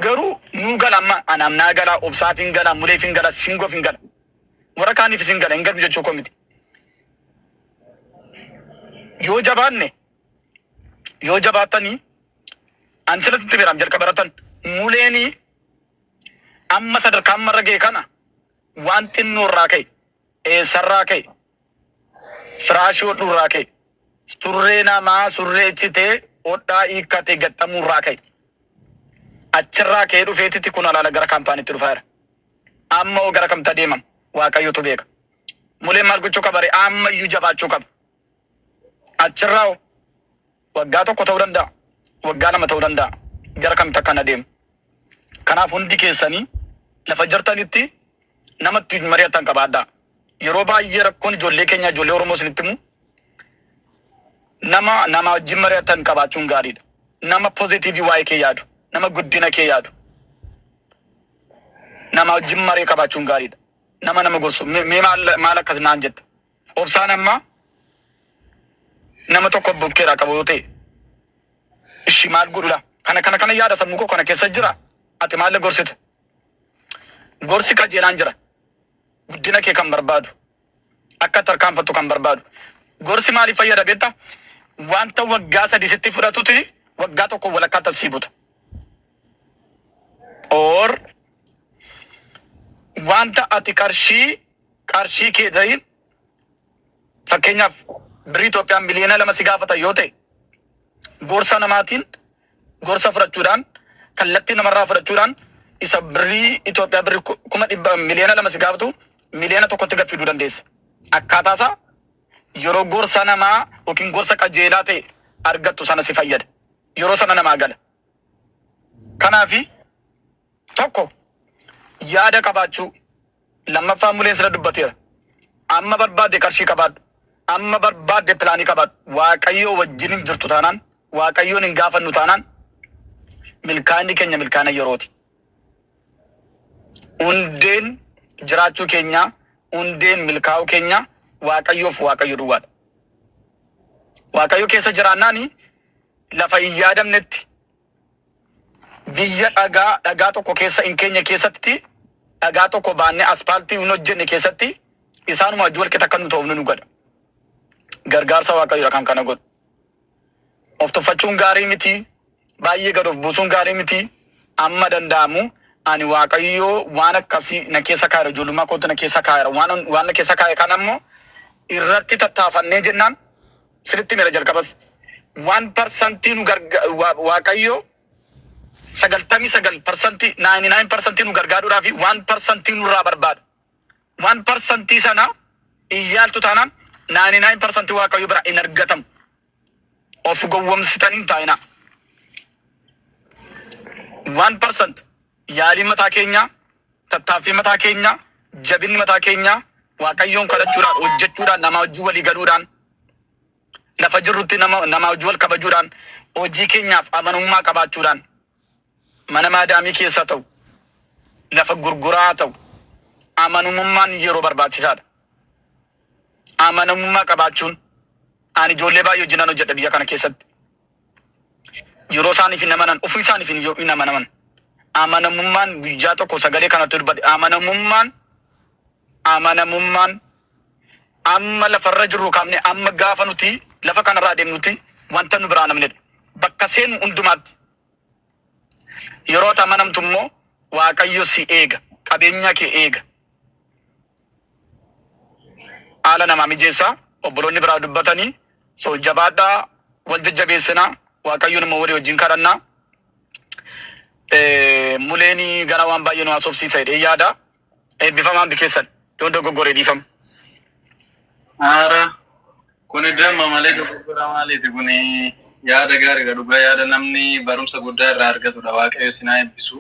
Garuu nuu gala amma anaaf naa gala obsaaf hin gala muleef hin gala singoof hin gala warra kaaniifis hin gala hin galu jechuu koo miti. Yoo jabaanne yoo jabaattanii ani sirriitti itti beeraam jalqaba irrattan muleenii amma sadarkaa amma irra ga'e kana waan xinnoo irraa ka'e eessarraa ka'e Firaashii hodhu irraa ka'e. Surree namaa surree ichitee hodhaa hiikkatee gaxxamuu irraa ka'e. Achirraa ka'ee dhufeetiti kun alaala gara kaampaaniitti dhufaa jira. Amma hoo gara kamta deemam? Waaqayyotu beeka. Muleen maal gochuu qaba ree? Amma iyyuu jabaachuu qaba. Achirraa hoo Waggaa tokko ta'uu danda'a, waggaa lama ta'uu danda'a, gara kamitti akka hin adeemu. Kanaaf hundi keessanii lafa jirtanitti nama ittiin mari'attan qabaadhaa. Yeroo baay'ee rakkoon ijoollee keenyaa, ijoollee Oromoo isinitti himu, nama namaa wajjin mari'attan qabaachuun gaariidha. Nama pozitiivii waa'ee kee yaadu, nama guddina kee yaadu, namaa wajjin maree qabaachuun gaariidha. Nama nama gorsu, "Me- mee maal maal akkas naan jetta? Obsaan amma nama tokko bukkeeraa qabu yoo ta'e ishi maal godhudha kana kana kana yaada sammuu koo kana keessa jira ati maal gorsita gorsi qajeelaan jira guddina kee kan barbaadu akka tarkaanfattu kan barbaadu gorsi maaliif fayyada beekta wanta waggaa sadii sitti fudhatuti waggaa tokko walakkaa tassii buta or wanta ati qarshii qarshii kee tahin fakkeenyaaf birrii Itoophiyaan miliyoona lama si gaafatan yoo ta'e gorsa namaatiin gorsa fudhachuudhaan kallattii namarraa fudhachuudhaan isa birrii Itoophiyaa birrii ku- kuma dhibba miliyoona lama si gaafatu miliyoona tokkotti gad fiduu dandeessa. Akkaataa isaa yeroo gorsa namaa yookiin gorsa qajeelaa ta'e argattu sana si fayyada. Yeroo sana namaa gala. Kanaafi tokko yaada qabaachuu lammaffaa muleen sila dubbateera amma barbaadde qarshii qabaadhu amma barbaadde pilaanii qabaadhu waaqayyoo wajjin hin jirtu taanaan waaqayyoon hin gaafannu taanaan milkaa'inni keenya milkaa'ina yerooti hundeen jiraachuu keenyaa hundeen milkaa'uu keenyaa waaqayyoof waaqayyo duwwaadha waaqayyo keessa jiraannaani lafa hin yaadamnetti Biyya dhagaa dhagaa tokko keessa hin keenye keessatti dhagaa tokko baannee aspaaltii hin hojjenne keessatti isaanuma wajjin walqixa akka nu ta'oofnu nu godha. Gargaarsa Waaqayyoodha kan kana godhu. Of tuffachuun gaarii miti. Baay'ee gad of buusuun gaarii miti. Amma danda'amu ani Waaqayyoo waan akkasii na keessa kaa'eera ijoollummaa kootti na keessa kaa'eera waan waan na keessa kaa'e kana immoo irratti tattaafannee jennaan Sinitti himeera jalqabas. Waan parsantii nu garga wa- Waaqayyo sagaltamii sagal parsantii naayini naayin parsantii nu gargaaruudhaa fi waan parsantii nurraa barbaadu. Waan parsantii sana hin yaaltu taanaan naayini naayin parsantii Waaqayyo bira hin argatamu. Of gowwomsitanii hin taa'inaa. Waan parsantii Yaaliin mataa keenyaa, tattaaffiin mataa keenyaa, jabinni mataa keenyaa Waaqayyoon kadhachuudhaan, hojjechuudhaan, namaa wajjin walii galuudhaan, lafa jirrutti nama, namaa wajjin wal kabajuudhaan, hojii keenyaaf amanummaa qabaachuudhaan, mana maadaamii keessa ta'u, lafa gurguraa ta'u, amanamummaan yeroo barbaachisaadha. Amanamummaa qabaachuun, ani ijoollee baay'ee wajjinan hojjedha biyya kana keessatti. yeroo isaaniif hin amanan ofii isaaniif hin yoo hin amanaman amanamummaan guyyaa tokko sagalee kanatti dubbadhe amanamummaan amanamummaan amma lafarra jirru kaafne amma gaafa nuti lafa kanarraa deemnuti wanta nu biraa namnedha bakka seenu hundumaatti yeroo ati amanamtu immoo waaqayyo si eega qabeenya kee eega haala namaa mijeessa obboloonni biraa dubbatanii so jabaadhaa wal jajjabeessinaa waaqayyoon immoo walii wajjin kadhannaa Eh, muleen gara waan baay'ee nu haasofsiisa jedhee yaada eebbifamaa hundi keessan yoo dogoggoree dhiifama. Haara kuni damma malee dogoggora maaliiti kuni yaada gaariidha dhugaa yaada namni barumsa guddaa irraa argatudha waaqayyo sinaa eebbisu.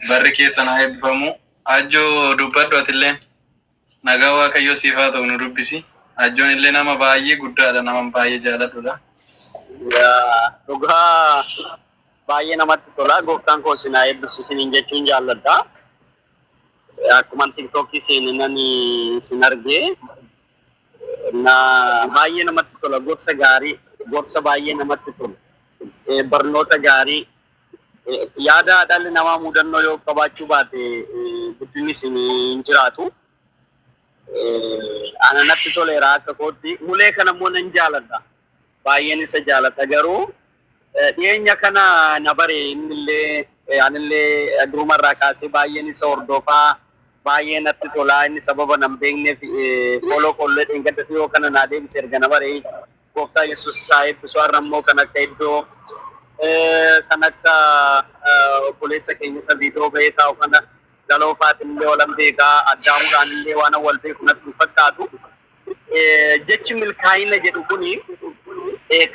Barri keessan haa eebbifamu. Ajjo dubbadhu atilleen. Nagaa Waaqayyoo siif haa ta'u nu dubbisi. Ajjoon illee nama baay'ee guddaadha nama baay'ee jaaladhudha. Yaa, Dhugaa baay'ee namatti tola. Gooftaan koo isin haa eebbisu isiniin jechuun jaalladha. Akkuman tiktookii seeninaan isin arge. Na baay'ee namatti tola. Gorsa gaarii, gorsa baay'ee namatti tolu. Eh, Barnoota gaarii, Yaada dhalli namaa mudannoo yoo qabaachuu baate guddinnis hin jiraatu. Ana natti toleera akka kootti. Mulee kana immoo nan jaaladha. Baay'een isa jaalata garuu dhiyeenya kana na bare innillee anillee duruma irraa kaasee baay'een isa hordofaa baay'ee natti tolaa inni sababa nan beekneef fooloo kollee dheengadda dhiyoo kana naa deebise erga na bare Gooftaa Yesuus isaa eebbisu har'a immoo kan akka iddoo kan akka obboleessa keenya isa viidiyoo bahee taa'u kana galoofaatiin illee walan beekaa addaamuudhaan illee waan wal beeku natti hin fakkaatu. Jechi milkaa'ina jedhu kuni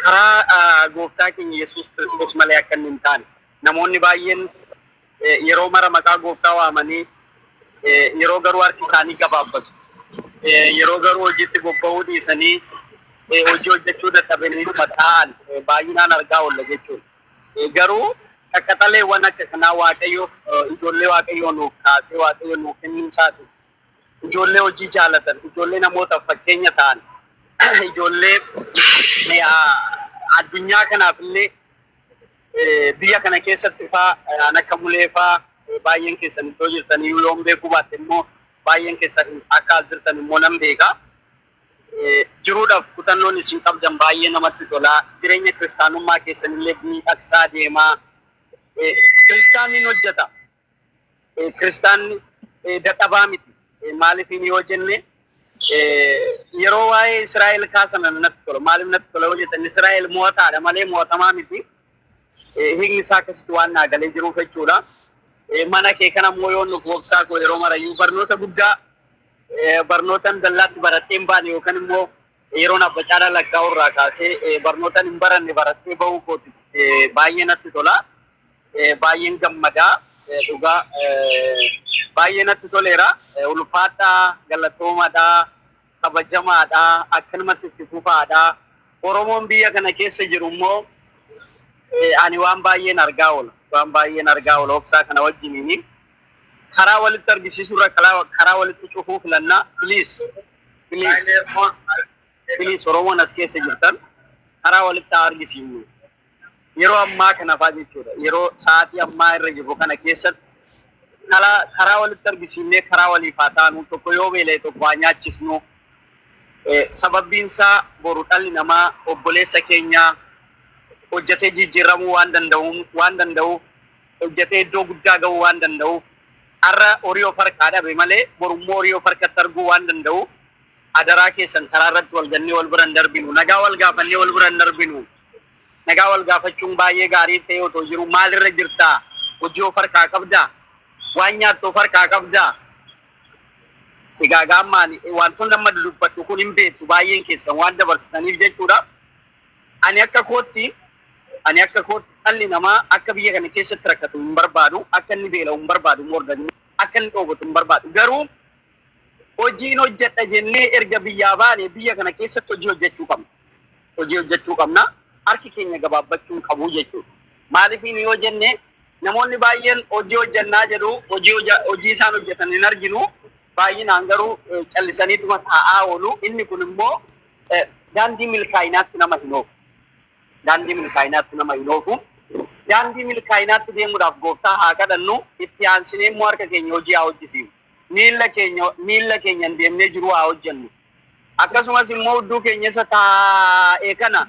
karaa gooftaa keenya Yesuus Kiristoos malee akka inni hin taane namoonni baay'een yeroo mara maqaa gooftaa waamanii yeroo garuu harki isaanii gabaabbatu. Yeroo garuu hojiitti bobba'uu dhiisanii hojii hojjechuu dadhabanii taa'an baay'inaan argaa oolla jechuudha. Garuu qaqqaxaleewwan akka kanaa waaqayyo ijoollee waaqayyoo nuuf kaasee waaqayyo nuuf kennuu isaati. Ijoollee hojii jaalatan, ijoollee namootaaf fakkeenya ta'an, ijoollee addunyaa kanaaf illee Biyya kana keessatti faa aan akka mulee faa baay'een keessan iddoo jirtan iyyuu yoon beekuu baatte immoo baay'een keessan akka as jirtan immoo nan beeka. Jiruudhaaf kutannoon isin qabdan baay'ee namatti tola. Jireenya kiristaanummaa keessan illee miidhagsaa deemaa. Kiristaanni hin hojjeta. kiristaanni dadhabaa miti. Maaliifiin yoo jenne yeroo waa'ee Israa'el kaasan natti tola. Maaliif natti tola yoo jettan Israa'el mo'ataadha malee mo'atamaa miti. Hiikni isaa akkasitti waan naa galee jiruuf jechuudha. Mana kee kana immoo yoo nuuf obsaa koo yeroo marayyuu barnoota guddaa barnootan dallaatti baradheen baane yookaan immoo Yeroon Abba Caalaa lakkaa'u irraa kaasee barnootan hin baranne baradhee bahuu kooti baay'ee natti tola. Baay'een gammadaa dhugaa baay'ee natti toleera. Ulfaadhaa galatoomadhaa kabajamaadhaa akkanumatti itti fufaadhaa. Oromoon biyya kana keessa jiru immoo ani waan baay'een argaa oola. Waan baay'een argaa oola obsaa kana wajjiniini. Karaa walitti argisiisuu irra karaa walitti cufuu filannaa please. Please, please Oromoon as keessa jirtan karaa walitti haa argisiifnu. Yeroo ammaa kana fa'aa jechuudha. Yeroo sa'aatii ammaa irra jirru kana keessatti karaa karaa walitti argisiifnee karaa waliif haa taanu tokko yoo beela'e tokko haa nyaachisnu. Eh, Sababbiin isaa boru dhalli namaa obboleessa keenya hojjetee jijjiiramuu waan danda'uun waan danda'uuf hojjatee iddoo guddaa gahuu waan danda'uuf, har'a horii of harkaa dhabe malee boru immoo horii of harkatti arguu waan danda'uuf adaraa keessan karaa irratti wal gannee wal bira hin darbinu. Nagaa wal gaafannee wal bira hin darbinu. Nagaa wal gaafachuun baay'ee gaarii ta'ee otoo jiruu maal irra jirta? Hojii of harkaa qabda? Waan nyaattu of harkaa qabda? Egaa gaammaan wantoonni amma dudubbadhu kun hin beektu baay'een keessan waan dabarsitaniif jechuudha. Ani akka kootti Ani akka kootti dhalli namaa akka biyya kana keessatti rakkatu hin barbaadu, akka inni beela'u hin barbaadu more than akka inni dhoobotu hin barbaadu. Garuu hojiin hojjedha jennee erga biyyaa baane biyya kana keessatti hojii hojjechuu qabna. Hojii hojjechuu qabna. Harki keenya gabaabbachuu hin qabu jechuudha. Maalifiin yoo jenne namoonni baay'een hojii hojjennaa jedhu hojii hoja- hojii isaan hojjetan hin arginu. Baay'inaan garuu eh, callisaniituma taa'aa oolu. Inni kun immoo Eh, Daandii milkaa'inaatti nama hin oofu. Daandii milkaa'inaatti nama hin oofu. Daandii milkaa'inaatti deemuudhaaf gooftaa haa kadhannu. Itti aansinee immoo harka keenya hojii haa hojjisiifnu. Miilla keenya miilla keenyan deemnee jiruu haa hojjennu. Akkasumas immoo udduu keenya isa taa'e kana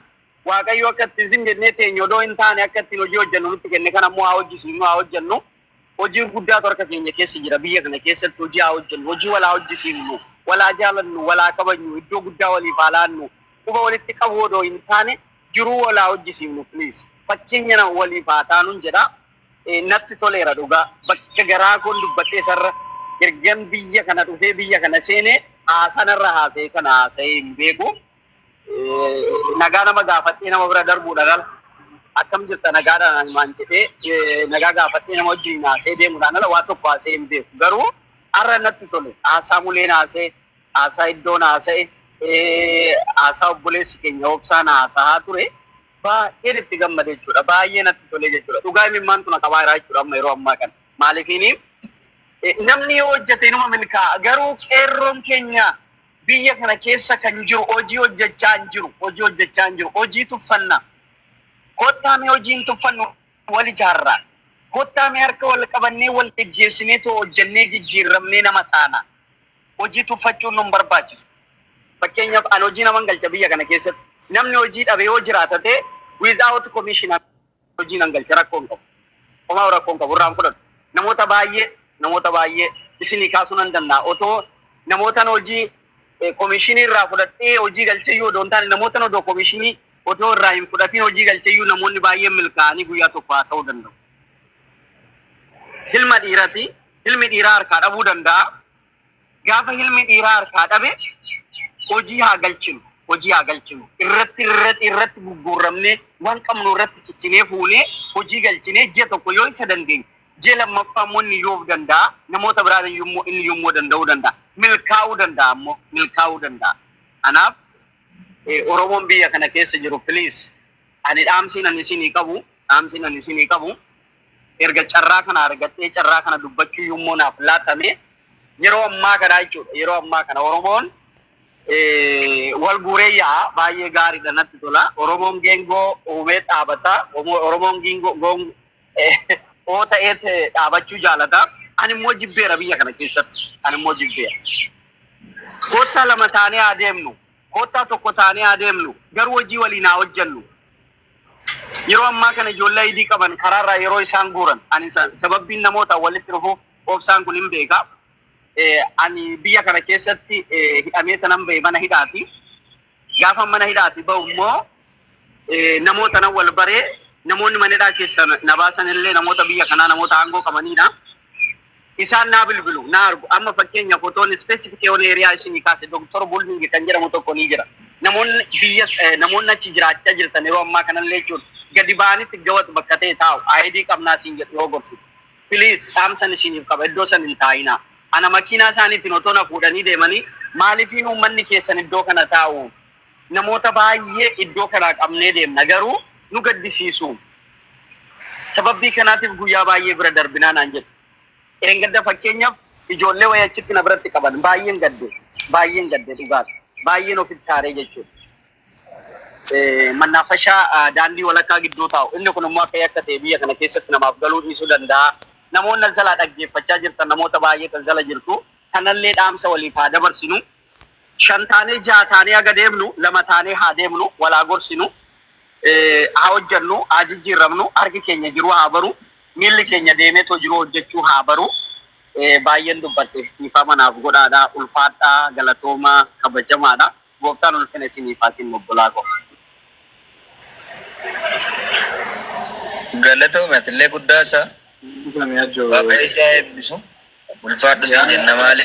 Waaqayyo akka ittiin zim jennee teenyu odoo hin taane akka ittiin hojii hojjennu nutti kenne kana immoo haa hojjisiifnu haa hojjennu. Hojii guddaatu harka keenya keessa jira. Biyya kana keessatti hojii haa hojjennu, hojii wal haa hojjisiifnu, wal haa jaalannu, wal haa kabajnu, iddoo guddaa waliif haa laannu, quba walitti qabuu odoo hin taane jiruu wal haa hojjisiifnu please. Fakkeenya nama waliif haa taanun jedha. Natti toleera dhugaa. Bakka garaa koon dubbadhe isarra ergan biyya kana dhufee biyya kana seene haasaa narra haasa'e kana haasa'ee hin beeku. nagaa nama gaafadhee nama bira darbuudha lala. Akkam jirta nagaadhaan himaan jedhee nagaa gaafadhee nama wajjin haasee deemuudhaan ala waa tokko haasee hin beeku. Garuu har'a natti tole haasaa muleen haasee haasaa iddoon haasa'e haasaa obboleessi keenya obsaan haasaa ture baay'een itti gammade jechuudha. Baay'ee natti tole jechuudha. Dhugaa imimmaan tuna qabaa jiraa jechuudha amma yeroo ammaa kana. Maaliifiin namni yoo hojjete inuma milkaa'a garuu qeerroon keenya Biyya kana keessa kan jiru hojii hojjechaa hin jiru. Hojii hojjechaa hin jiru. Hojii tuffanna. Kottaa mee hojii hin tuffannu wal ijaarraa. Kottaa mee harka wal qabannee wal geggeessinee too hojjennee jijjiirramnee nama taana. Hojii tuffachuun nun barbaachisu. Fakkeenyaaf an hojii naman galcha biyya kana keessatti. Namni hojii dhabe yoo jiraata ta'e without commission. hojii nan galcha rakkoo hin qabu. Homaa rakkoo hin qabu irraan fudhadhu. Namoota baay'ee namoota baay'ee isinii kaasuu nan danda'a. Otoo namootan hojii eh, komishinii irraa fudhadhee hojii galcheyyuu odoo hin taane namootan odoo komishinii otoo irraa hin fudhatiin hojii galcheyyuu namoonni baay'een milkaa'anii guyyaa tokko haasa'uu danda'u. Hilma dhiirati. Hilmi dhiiraa harkaa dhabuu danda'a. Gaafa ilmi dhiiraa harkaa dhabe hojii haa galchinu, hojii haa galchinu. Irratti irratti irratti gugguurramnee waan qabnu irratti cichinee fuunee hojii galchinee ji'a tokko yoo isa dandeenye ji'a lammaffaa immoo inni iyyuu of danda'a. Namoota biraan iyyuu immoo inni iyyuu immoo danda'uu danda'a. Milkaa'uu danda'a immoo milkaa'uu danda'a. Kanaaf Oromoon biyya kana keessa jiru please ani dhaamsiin ani isinii qabu dhaamsiin ani isinii qabu. erga carraa kana argadhee carraa kana dubbachuu immoo naaf laatame yeroo ammaa kanaa jechuudha. Yeroo ammaa kana Oromoon wal guuree yaa'a baay'ee gaariidha natti tola. Oromoon geengoo uumee dhaabata. Oromoon giingoo oo ta'ee dhaabachuu jaalata. Ani immoo jibbeera biyya kana keessatti. Ani immoo jibbeera. Koottaa lama taanee haa deemnu. Koottaa tokko taanee haa deemnu. Garuu hojii waliin haa hojjennu. Yeroo ammaa kana ijoollee ID qaban karaarraa yeroo isaan guuran ani sababbiin namoota walitti dhufuuf obsaan kun hin beeka. Ani biyya kana keessatti hidhamee tanan bahe mana hidhaati. Gaafan mana hidhaati bahu immoo namoota nan wal baree namoonni mana hidhaa keessa na baasan illee namoota biyya kanaa namoota aangoo qabaniidha. Isaan naa bilbilu, na argu. Amma fakkeenya fotoon specific yoon area isinii kaase Doktar Bulling kan jedhamu tokko ni jira. Namoonni biyya namoonni achi jiraachaa jirtan yeroo ammaa kanallee jechuudha gadi ba'anitti gawat bakka ta'e taa'u. ID qabnaa siin jedhu yoo gorsite. Please dhaamsan isiniif qaba iddoo san hin taa'inaa. Ana makiinaa isaaniitiin otoo na fuudhanii deemanii maalifiin uummanni keessan iddoo kana taa'u? Namoota baay'ee iddoo kanaa qabnee deemna garuu nu gaddisiisu. Sababbii kanaatiif guyyaa baay'ee bira darbinaa naan jedhu. Dheengadda fakkeenyaaf ijoollee wayii achitti na biratti qaban. Baay'een gadde. Baay'een gadde dhugaadha. Baay'een ofitti aaree jechuudha. Mannaafashaa daandii walakkaa gidduu taa'u. Inni kun immoo akka yakka ta'e biyya kana keessatti namaaf galuu dhiisuu danda'a. Namoonni as jalaa dhaggeeffachaa jirtan namoota baay'eetu as jala jirtu. Kanallee dhaamsa waliif haa dabarsinu. Shan taanee jaha taanee haga deemnu lama taanee haa deemnu, wal haa gorsinu, haa hojjannu, haa jijjiirramnu, harki keenya jiruu haa baru, miilli keenya deemeetoo jiruu hojjachuu haa baru. Baay'een dubbadhe dhiifama naaf godhaadha. Ulfaadhaa, galatoomaa, kabajamaadha. Gooftaan ulfina isiniif haa kennu obbolaa koo. Galatoomi atillee guddaa isaa. Waaqayyo si haa eebbisu. Ulfaadhu siin jenna maali.